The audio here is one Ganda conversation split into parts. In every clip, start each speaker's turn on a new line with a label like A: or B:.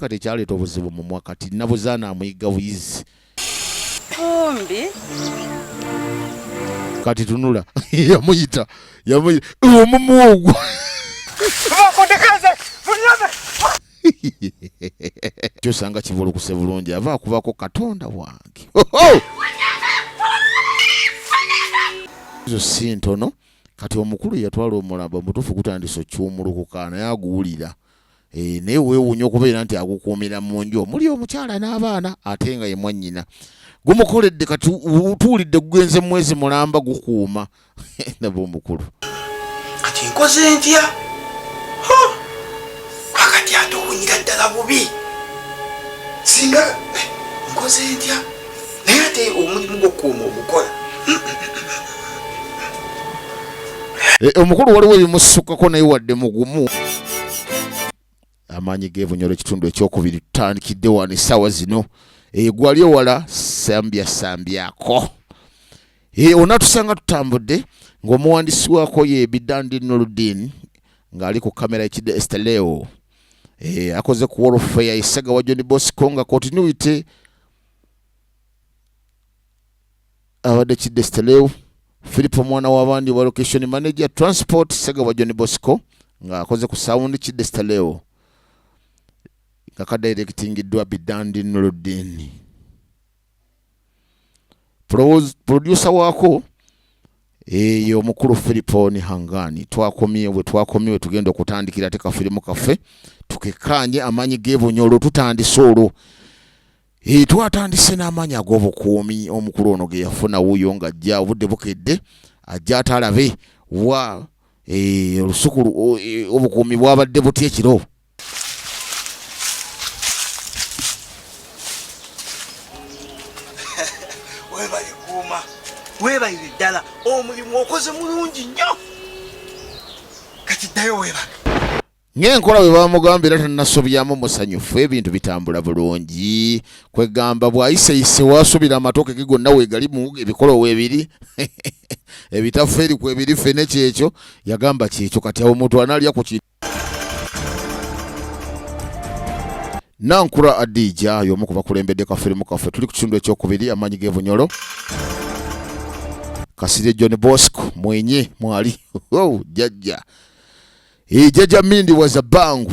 A: kati ekyaleeta obuzibu mumwa kati nabuzaana amuyigga buyizi
B: kumbi
A: kati tunula yamuyita yamuyita omumwa ogwo kyosanga kivulukuse bulungi ava akubako katonda wange ezo si ntono kati omukulu yatwala omulamba mutuufu gutandise okiwumulukuka naye aguwulira Eh, naye weewuunya okubeera nti agukuumira mu nju omuli omukyala n'abaana ate nga ye mwannyina gumukoledde kati utuulidde gugenze mwezi mulamba gukuuma naba omukulu kati
C: nkoze ntya akati ate owunyira ddala bubi singa eh, nkoze ntya naye ate omulimu gwokuuma ogukola
A: eh, omukulu waliwo ebimusukkako naye wadde mugumu amaanyi gebunyolo ekitundu ekyokubiri tutandikidde wano essaawa zino egwali eh, ewala sambya sambyako eh, onatusanga tutambudde ng'omuwandiisi waako ye bidandi noludin ng'ali ku kamera ekidde esteleo akoze ku wolfeya esagawa joni bosco nga continuity abadde kidesteleu philip omwana w'abandi wa location manager transport segabwa john bosco ng'akoze ku sound kidesteleu nga kadirectingiddwa bidandi nuluddiini producer waako eyo omukulu filiponi hangani twakomye bwe twakomye we tugenda okutandikira ate kafirimu kaffe tukekkaanye amaanyi g'ebunyolo tutandise olwo e, twatandise n'amaanyi ag'obukuumi omukulu ono ge yafuna wuuyo ng'ajja obudde bukedde ajja atalabe wa e, olusuku e, obukuumi bwabadde butya ekiro
C: webale kuuma webalire ddala omulimu okoze mulungi nnyo kati ddayo webale ng'enkola bwe
A: bamugamba era tanasobyamu musanyufu ebintu bitambula bulungi kwegamba bw'ayiseyise waasubira amatoke ge gonna weegalimu ebikolo weebiri ebitafu eri kwebiri ffene kyekyo yagamba kyekyo kati awo omuntu anaalya ku kintu Nankura Adija y'omu ku bakulembedde ka firimu kaffe tuli ku kitundu ekyokubiri amaanyi g'ebunyolo Kasirye John Bosco mwenye mwali oh, jajja e jajja Mindi was a bangu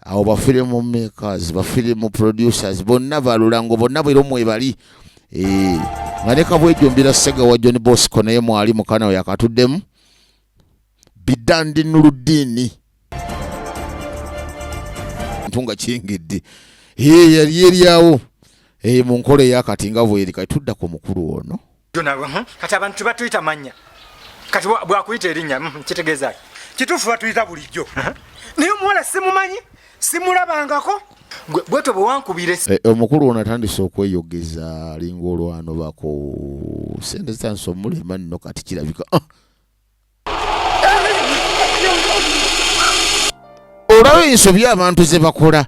A: awo bafirimu makers bafirimu producers bonna balulango bonna bwero mwebali eh, nga ne kabwejumbira sega wa john bosco naye mwali mukana we yakatuddemu bidandi nuluddiini ntu nga kingidde eh, yali eryawo eh, mu nkola eyakati nga bweri kati tudda ku mukulu ono Hmm? kati abantu
C: tebatuyita mannya kati bwakuyita erinnya hmm, kitegeezaki kituufu batuyita bulijjo naye omuwala simumanyi simulabangako bwetyo bwewankubire eh, omukulu ono atandise
A: okweyogeza alinga olwano bako sente zitandise omulema nno kati kirabika ah! olaba ensobi abantu ze bakola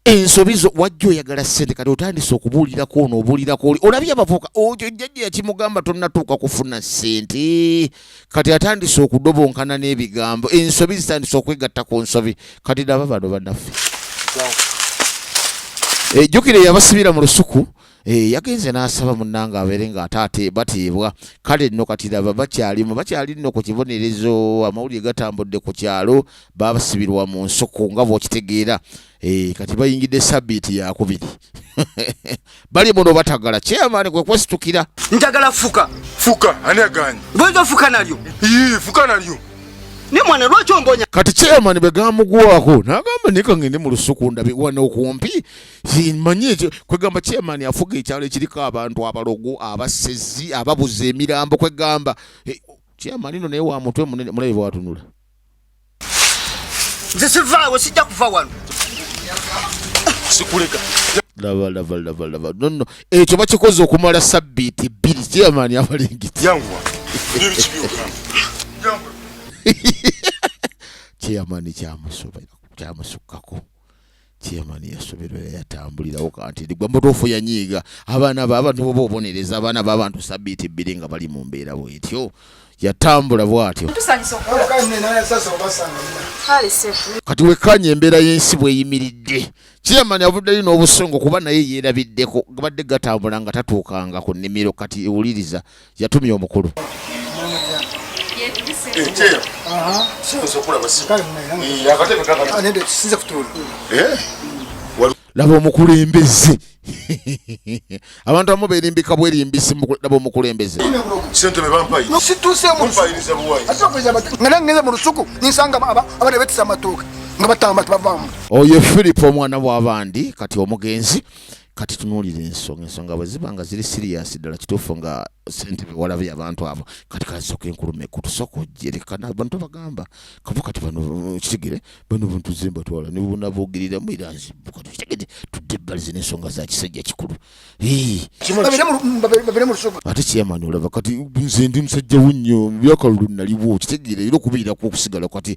A: ensobi zo wajja oyagala sente kati otandise okubuulirako ono obuulirako oli olabye abavuka oyo jjajja yakimugamba tonnatuuka kufuna sente kati atandise okudobonkana n'ebigambo ensobi zitandise okwegatta ku nsobi kati naba bano banaffe ejjukire eh, yabasibira mu lusuku Eh, yagenze n'asaba munnange abeere ng'ate ate bateebwa kale nno kati laba bakyalimu bakyali nno ku kibonerezo amawulire gatambudde ku kyalo baabasibirwa mu nsuku nga bw'okitegeera eh, kati bayingidde sabbiiti yakubiri bali muno batagala kyeyamaani kwe kwesitukira njagala fuka
C: fuka ani
D: aganye goyinza ofuka nalyo
C: ii fuka nalyo
D: ne mwana
C: lwaki ombonya kati chairman bwe
A: gamugwako n'agamba naye kangende mu lusuku ndabe wano okumpi manyi ekyo kwegamba chairman afuga ekyalo ekiriko abantu abalogo abasezi ababuza emirambo kwegamba eh, chairman ino naye wa mutwe munene mulabe bwatunula
C: nze sivaawo sijja kuva wano sikuleka
D: lava lava
A: lava lava nono ekyo bakikoze okumala
D: sabbiiti
A: bbiri chairman abalingiti
D: chairman
A: kyamusukkako chairman yasoberwa yatambulirawo kanti ndigwa mutuufu yanyiiga abaana baabantu boba obonereza abaana baabantu sabiiti ebbiri nga bali mu mbeera bwetyo yatambula bwatyo kati wekkaanya embeera y'ensi bweyimiridde chairman avuddeyo n'obusungu kuba naye yeerabiddeko gabadde gatambula nga tatuukanga ku nnimiro kati ewuliriza yatumye omukulu laba omukulembeze abantu abamu berimbika bwerimbisi laba
D: omukulembeze
E: oyo filipo
A: omwana wabandi kati omugenzi kati tunuulira ensonga ensonga bwe ziba nga ziri siriyasi ddala kituufu nga sente bewalabye abantu abo kati kasoka enkuluma ekku tusooka ojerekana abantu bagamba kava kati bano kitegere bano buntu zemba twala nebubona bogerera mu era nzibu kati kitegede tudde ebbalize n'ensonga za kisajja kikulu
E: ate kyamani olaba kati
A: nze ndi musajja wo nnyo byakalulu naliwo kitegere era okubeerako okusigala kati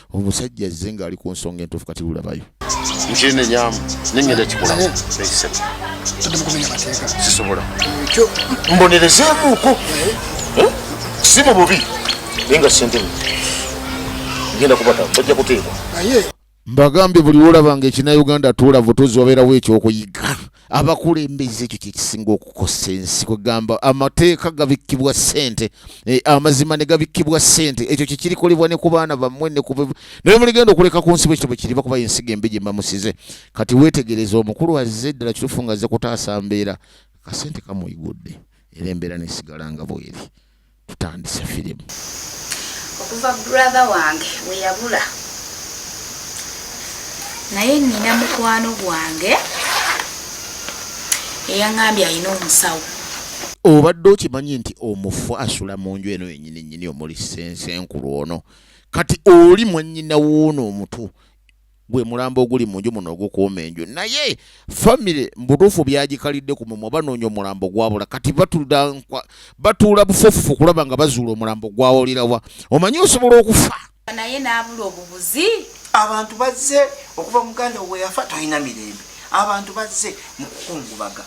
A: omusajja azze ng'ali ku nsonga entuufu kati lulabayo nkyenenyamu
D: nengenda kikolamu
E: sisobola mbonerezemuko
D: si mu bubi naye nga sente genda kubata bajja kuteekwa
E: mbagambye buli
A: wolabanga ekinauganda tuula vutuzi wabeerawo ekyokuyiga abakulembeze ekyo kyekisinga okukosa ensi kwegamba amateeka gabikkibwa sente e, amazima ne gabikkibwa sente ekyo kyekirikolebwa ne ku baana bammwe naye muligenda okuleka ku nsi bwekito bwekiriva kuba ensiga embi gyemamusize kati wetegereza omukulu azze ddala kitufu nga azze kutaasa mbeera kasente kamuyigudde era embeera nesigala nga bweri tutandise firimu okuva
B: brother wange weyabula naye nina mukwano gwange eyaŋambye alina omusawo obadde
A: okimanyi nti omufu asula mu nju eno yenyini nyini omuli sensenkulu ono kati oli mwanyina wuuno omutu gwe mulambo oguli mu nju muno ogukuuma enju naye famire mbutuufu byagikalidde ku mumwe banoonya omulambo gwabula kati batuula bufofufu kulaba nga bazuula omulambo gwawolirawa omanyi osobola okufa naye n'abula
B: obubuzi abantu
F: bazze okuva muganda weyafa tolina mirembe abantu bazze mu kukungubaga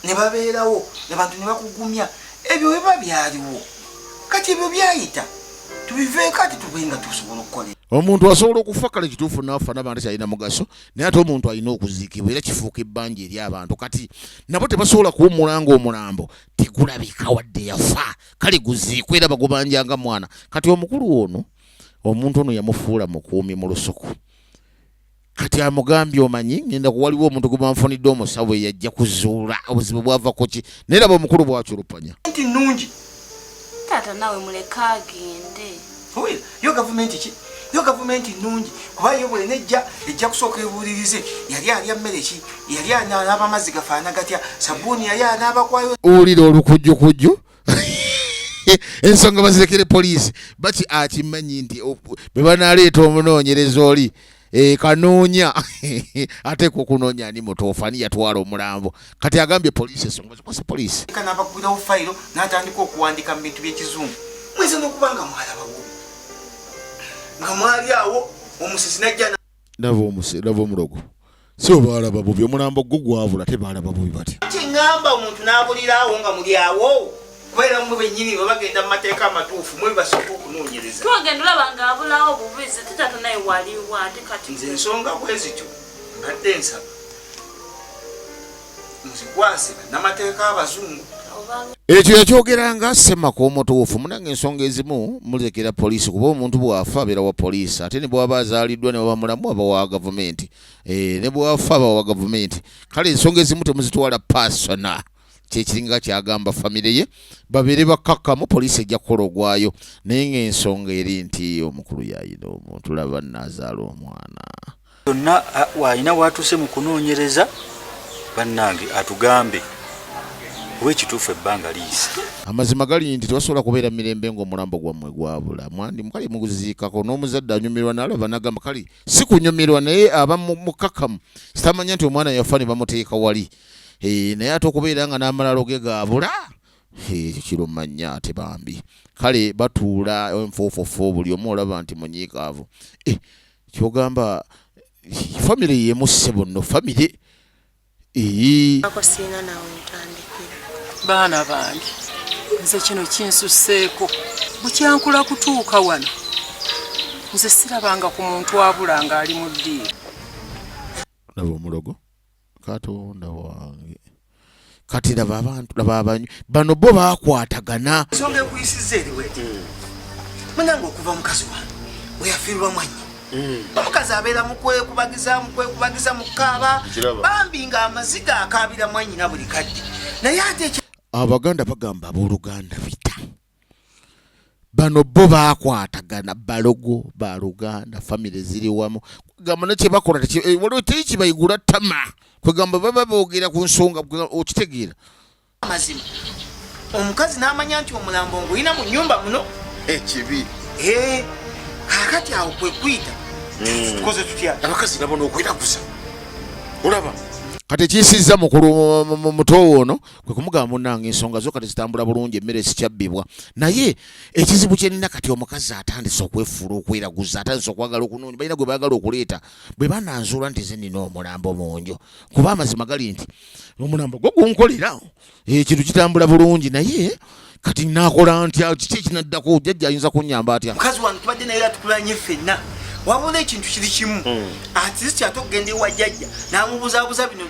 F: ne babeerawo abantu ne bakugumya ebyo biba byaliwo kati ebyo byayita tubiveeko ate tube nga tusobola okukola omuntu asobola okufa
A: kale kituufu naafa naba nti kyalina mugaso naye ate omuntu alina okuziikibwa era kifuuka ebbanja eri abantu kati nabo tebasobola kuwummula nga omulambo tegulabika wadde yafa kale guziikwa era bagubanja nga mwana kati omukulu ono omuntu ono yamufuula mukuumi mu lusuku kati amugambye omanyi ngenda kuwaliwo omuntu gwe banfunidde omusawo eyajja kuzuula obuzibu bwavako ki naye laba omukulu bwaculupanya nti nnungi
F: taata
B: nawe muleka agende yo
F: gavumenti ki yo gavumenti nnungi kuba yo bwena ejja ejja kusooka ebuulirize yali alya mmere ki yali anaaba amazzi gafaana gatya sabuuni yali anaabakwayo owulira olukujjukujju
A: ensonga bazirekere poliisi baki akimanyi nti bwe banaleeta omunoonyereza oli e, kanoonya ate ku okunoonya ani mutuufu ani yatwala omulambo kati agambye poliisi esonga zikwasa poliisi kana abakubirawo fayiro
F: n'atandika okuwandiika mu bintu by'ekizungu mweza n'okuba nga mwalabawo nga mwali awo omusisi najja laba omuse laba
A: omulogo si obaalaba bubi omulambo gwo gwabula te baalaba bubi bati kiŋamba omuntu
F: n'abuliraawo nga muli awo kubeera mwe bennyini bwe bagenda mu mateeka amatuufu mwe bibasooka okunoonyereza twagenda olaba nga
B: abulawo bubi ze tetato naye waliwo ate kati nze ensonga bwe
F: zityo mbadde nsaba muzikwase bannamateeka abazungu ekyo
A: yakyogeranga semaka omutuufu munange ensonga ezimu mulekera poliisi kuba omuntu bwafa abeera wa poliisi ate nebwaba azaaliddwa newaba mulamu aba wa gavumenti eh, nebwafa aba wa gavumenti kale ensonga ezimu temuzitwala pasona kyekiringa kyagamba famire ye babeere bakkakkamu poliisi ejja kukola ogwayo naye ngaensonga eri nti omukulu yayina omuntu laba nazaala omwana yonna alina
G: waatuuse mu kunoonyereza bannange atugambe kuba ekituufu ebbanga liyise amazima gali nti
A: tebasobola kubeera mirembe ng'omulambo gwammwe gwabula mwandi mukali muguziikako n'omuzadde anyumirwa nalaba nagamba kali si kunyumirwa naye aba mukakamu sitamanya nti omwana yafa ne bamuteeka wali eh, naye ate okubeera nga n'amalalo ge gaabula ekyo kirumanya ate bambi kale batuula enfuufufu buli omu olaba nti munyiikaavu eh, kyogamba famire yemusse bonno famire eyi ako siina nawe
B: ntandikira baana
H: bange nze kino kinsuseeko bukyankula kutuuka wano nze sirabanga ku muntu abula ng'ali mu ddiiro
A: laba omulogo katonda wange kati laba abantu laba abanyu bano bo bakwatagana nsonga ekuyisiza
F: eriwete mm. munange okuva mukazi wange weyafiirwa mwanyi mm. omukazi abeera mukwekubagiza mukwekubagiza mukaaba bambi nga amaziga akaabira mwanyina buli kadde naye ate abaganda bagamba
A: abooluganda bita bano bo bakwatagana balogo ba luganda famire ziri wamu kwegamba ne kyebakola eh, waliwo teri kibayigula tama kwegamba baba boogera ku nsonga okitegeera amazima
F: omukazi n'amanya nti omulambo ngulina mu nyumba muno ekibi
D: eh,
F: eh, kakati awo kwekuyita hmm. tukoze tutya abakazi nabo nokweraguza
D: olaba kati
A: ekiyisizza mukulu mutowo ono kwe kumugamba munange ensonga zo kati zitambula bulungi emmere sikyabbibwa naye ekizibu kyenina kati omukazi atandise okwefuula okweraguza atandise okwagala okunoonya balina gwe baagala okuleeta bwe bananzuula nti zenina omulambo mu nju kuba amazima gali nti omulambo gwo gunkolera ekintu eh, kitambula bulungi naye kati nakola ntya kiki ekinaddako jajja ayinza kunyamba atya mukazi wange tubadde naye
F: atukulanye ffenna wabona ekintu kiri kimu hmm. atist ate okugenda ewa jajja namubuzabuza bino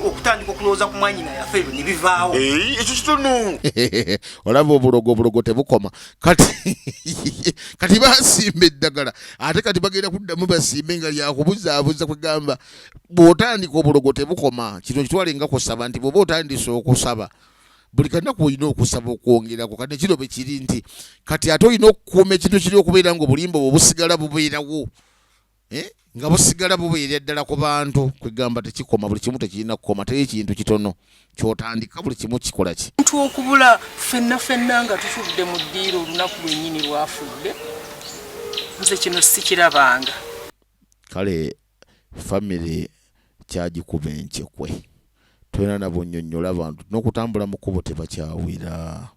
F: okutandika okulowooza ku mwanyi na yafe ebyo nebivaawo eh, ekyo kitunu
D: olaba
A: obulogo obulogo tebukoma kati kati basimba eddagala ate kati bagenda kuddamu basimbe nga lyakubuzabuza kwegamba bwotandika obulogo tebukoma kino kitwale nga kusaba nti bwoba otandise okusaba buli kanaku olina okusaba okwongerako kati kino bwe kiri nti kati ate olina okukuuma ekintu kiri okubeera nga obulimba obwo busigala bubeerawo eh? nga busigala bubeera ddala ku bantu kwegamba tekikoma buli kimu tekirina kukoma teri ekintu kitono kyotandika buli kimu kikola ki ntu okubula
H: fenna fenna nga tufudde mu ddiiro olunaku lwennyini lwafudde nze kino sikirabanga kale
A: family kyagikuba enkyekwe tolina nabonyonyola bantu nokutambula mukubo tebakyawira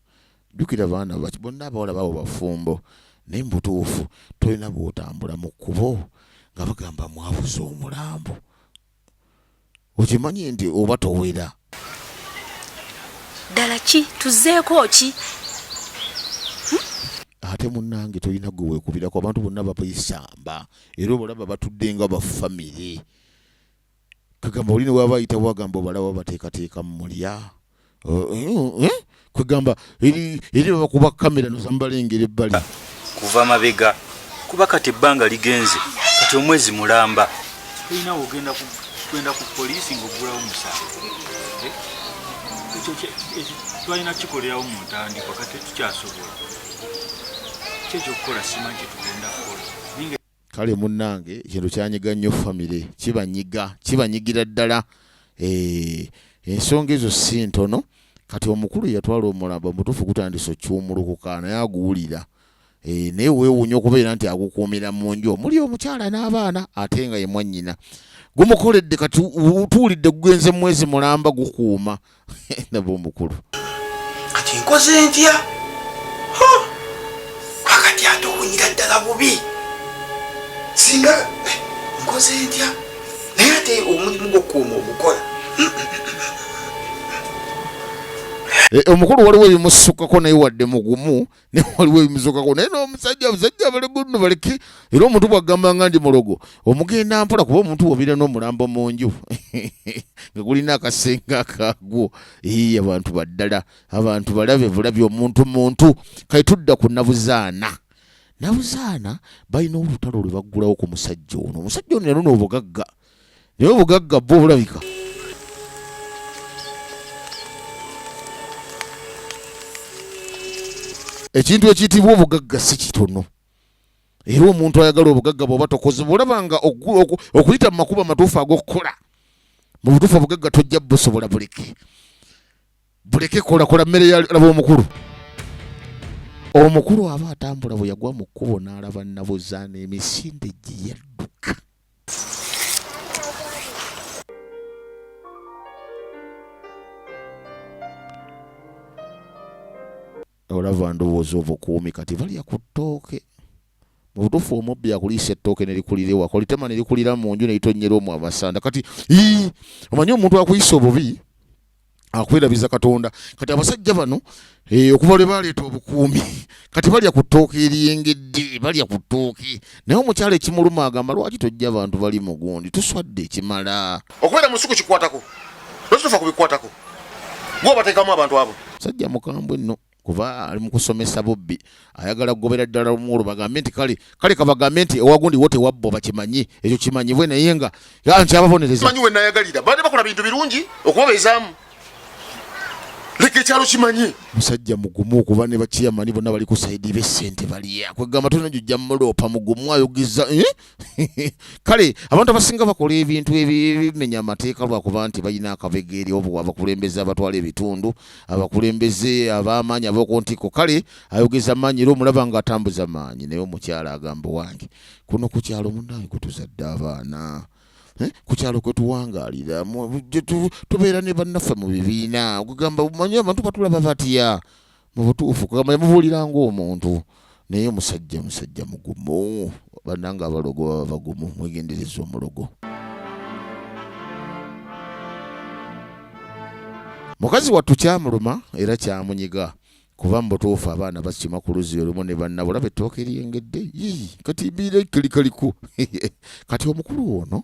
A: jukira baana baki bonna abawala babo bafumbo naye mubutuufu tolina bwotambula mukubo nga bagamba mwabuza omulambo okimanyi nti oba towera
B: ddala ki tuzeeko ki
A: hmm? ate munange tolina gwe wekubirako abantu bonna babaisamba era obalaba batudde nga bafamire kagamba oli newaba ayitawo agamba obalaba bateekateeka mulya eh, eh, kwegamba eri bakuba kamera nozambalengera ebbali kuva mabega
G: kuba kati ebbanga ligenze kati omwezi mulamba olina ogenda kugenda ku poliisi ngaoggulawo omusango eh? ekyo twalina kikolerawo mu ntandikwa kati tukyasobola kyekyokukola simanyi kyetugenda kukola kale
A: munnange ekintu kyanyiga nnyo famire kibanyiga kibanyigira ddala eh, ensonga ezo si ntono kati omukulu yatwala omulamba mutuufu gutandisa okyumulukuka naye aguwulira eh, naye weewuunya okubeera nti agukuumira mu nju omuli omukyala n'abaana ate nga ye mwannyina gumukoledde kati tuwulidde gugenze mwezi mulamba gukuuma nabwo omukulu kati
F: nkoze ntya akati ate owunyira ddala bubi singa eh, nkoze ntya naye ate omulimu gwokuuma ogukola eh,
A: omukulu waliwo ebimusukkako naye wadde mugumu naye waliwo ebimusokako naye nomusajja abasajja balegunno baleke era omuntu bwagamba nga ndi mulogo omugenda mpola kuba omuntu wobira nomulambo mu nju nga gulina akasenga akagwo ii abantu baddala abantu balabe bulabi omuntu muntu kati tudda ku nabuzaana nabuzaana balina olutalo lwe baggulawo ku musajja ono omusajja ono yalona obugagga no naye obugagga bwo bulabika ekintu ekiyitibwa obugagga si kitono era omuntu ayagala obugagga bwoba tokozeba olaba nga okuyita mu makubo amatuufu ag'okukola mu butuufu obugagga tojja busobola buleke buleke kolakola mmere yalaba omukulu omukulu aba atambula bwe yagwa mu kkubo n'alaba nnabuzaana emisinde gye yadduka olava ndowooza obukuumi kati balya ku ttooke mu butuufu omubbi akuliisa ettooke nelikulira ewaka olitema nelikulira mu nju nelitonnyera omu amasanda kati omanyi omuntu akuyisa obubi akwerabiza katonda kati abasajja bano eh, okuva lwe baleeta obukuumi kati balya ku ttooka eriyengedde balya ku ttooka naye omukyalo ekimuluma agamba lwaki tojja abantu bali mugundi tuswadde ekimala okubeera mu nsuku
D: kikwatako lwaki tofa ku bikwatako gwe obateekamu abantu abo sajja mukambwe nno
A: kuba ali mukusomesa bubbi ayagala kugobera ddala omwolo bagambe nti kale kale kabagambe nti ewagundi wo tewabbo bakimanyi ekyo kimanyibwe naye nga nti ababonerezamanyi wenayagalira
D: baade bakola bintu birungi okubabeezaamu leka ekyalo kimanyi musajja mugumu
A: okuba ne bakiyamani bonna bali ku saidi be sente baliya kwegamba tolina jojja muloopa mugumu ayogeza eh? kale abantu abasinga bakola ebintu ebimenya amateeka lwakuba nti balina akabegeeri obu abakulembeze abatwala ebitundu abakulembeze abamaanyi abokuntiko kale ayogeza maanyi era omulaba nga atambuza maanyi naye omukyala agamba wange kuno ku kyalo munange kutuzadde abaana eh, ku kyalo kwe tuwangalira tubeera ne bannaffe mu bibiina ogugamba manyi abantu batulaba batya mubutuufu kugamba yamubuulira ngaomuntu naye musajja musajja mugumu bananga abalogo baba bagumu mwegendereza omulogo mukazi wattu kyamuluma era kyamunyiga kuba mubutuufu abaana bakima ku luzi olumu ne bannabo olaba ettooka eryengedde kati mbiira kalikaliku kati omukulu ono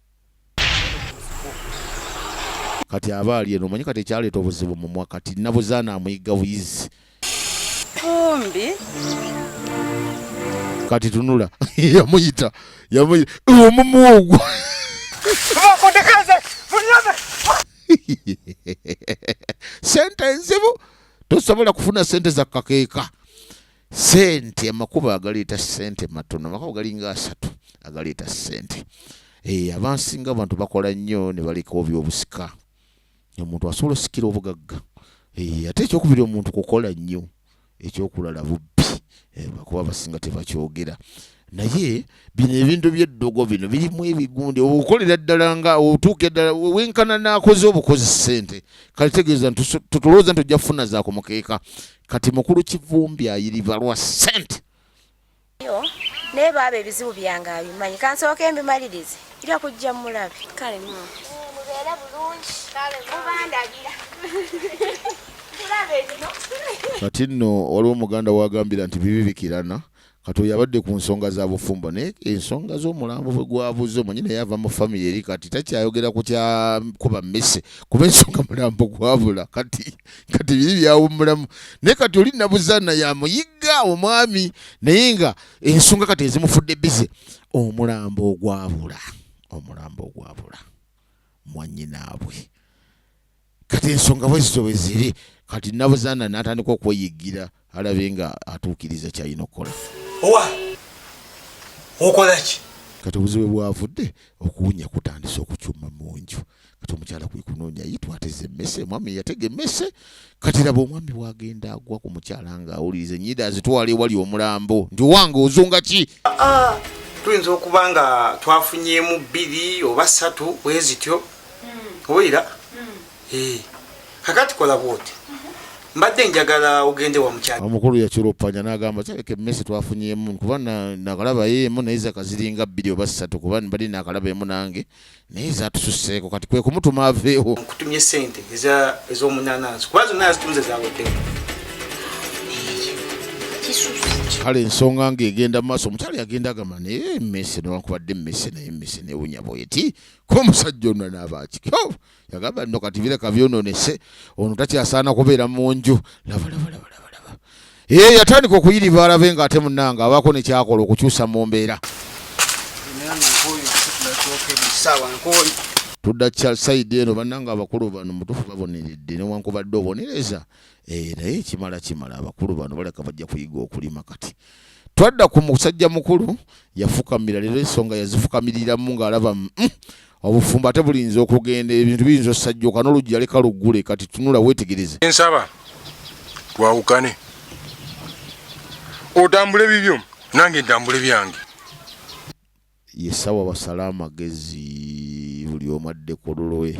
A: kati aba ali eno omanyi kati ekyaleeta obuzibu mumwa kati nabuzaana amuyigga buyizi kumbi kati tunula yamuyita yamuyita omumwa ogwo sente enzibu tosobola kufuna sente za kakeeka sente amakubo agaleeta sente matono amakubo galinga asatu agaleeta sente e, eh, abansinga abantu bakola nnyo ne baleka obyobusika omuntu asobola osikira obugagga e, ate ekyokubiri omuntu kukola nnyo ekyokulala bubbi e, eh, bakuba abasinga tebakyogera naye bino ebintu byeddogo bino birimu ebigundi okolera ddala nga otuuka eddala wenkana nakoze obukozi sente kati tegeeza tutulowooza nti ojja kufuna zaako mukeeka kati mukulu kivumbi ayiriba lwa sente
I: naye baaba ebizibu byange abimanyi kansooka embimalirize ira kujja mulabe kale mubeere bulungi mubandagira kati nno
A: waliwo muganda wagambira nti bibibikirana kati oyo abadde ku nsonga za bufumbo naye ensonga z'omulambo bwe gwabuze omanyi naye ava mu famiry eri kati takyayogera ku kyakuba mmese kuba ensonga mulambo gwabula kati kati biri byawummulamu naye kati oli nabuzaana yamuyigga omwami naye nga ensonga kati ezimufudde bize omulambo ogwabula omulambo ogwabula mwanyinaabwe kati ensonga bwezityo bweziri kati nabuzanda natandika okweyiggira alabe nga atuukiriza kyalina okukola owa
C: okolaki kati obuzibu
A: bwavudde okuwunya kutandise okucuma munju kati omukyala kwekunoonya yi twateze emmese omwami yatega emmese kati laba omwami wagenda agwa ku mukyala nga awuliriza enyida azitwala ewali omulambo nti owange ozunga ki ah, ah. tuyinza
F: okuba nga twafunyemu bbiri oba ssatu bwezityo owulira eh. kakati kola bwoti mbadde njagala ogende wa mukyala omukulu yakirupanya
A: nagamba kyaleka emmese twafunyemu kuba nakalaba yeemu naye zakaziringa bbiri oba ssatu kuba mbadde nakalaba emu nange naye zatususeeko kati kwe kumutuma aveewo nkutumye sente
F: ez'omunanansi kuba zonna yazitunze zaweddeko
A: kale ensonga nga egenda maaso omukyala yagenda agamba naye emmese newankubadde emmese naye emmese newunya bweti komusajja ono nabaaki oh, yagamba no kati bireka byononese ono takyasaana kubeera mu nju labalabalabalaba ee yatandika okuyiriba alabe nga ate munanga abaako nekyakola okukyusa mu mbeera tudda saidi eno bananga abakulu bano mutufu baboneredde newankubadde obonereza eh, naye kimala kimala abakulu bano baleka bajja kuyiga okulima kati twadda ku musajja mukulu yafukamira leero ensonga yazifukamiriramu ng'alaba mm, obufumbo ate bulinza okugenda ebintu biyinza osajjoka n'oluggi yaleka luggule kati tunula weetegereze nsaba
J: twawukane otambule bibyo nange ntambule byange yesawa
A: basala amagezi buli omu adde ku lulwe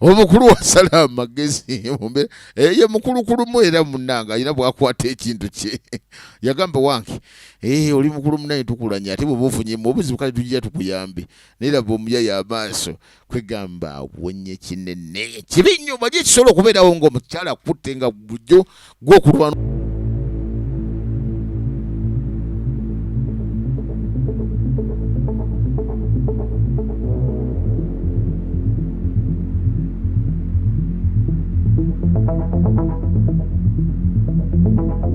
A: omukulu wasala amagezi eh, ye mukulukulumu era munanga alina bwakwata ekintu kye yagamba wange eh, oli mukulu munaye tukulanya ate bwebaofunyemu obuzibu kale tujja tukuyambe naye laba omuyaya amaaso kwegamba awonye kinene kibi nnyo bali ekisobola okubeerawo ngaomukyala akutte nga bujjo gwokulwana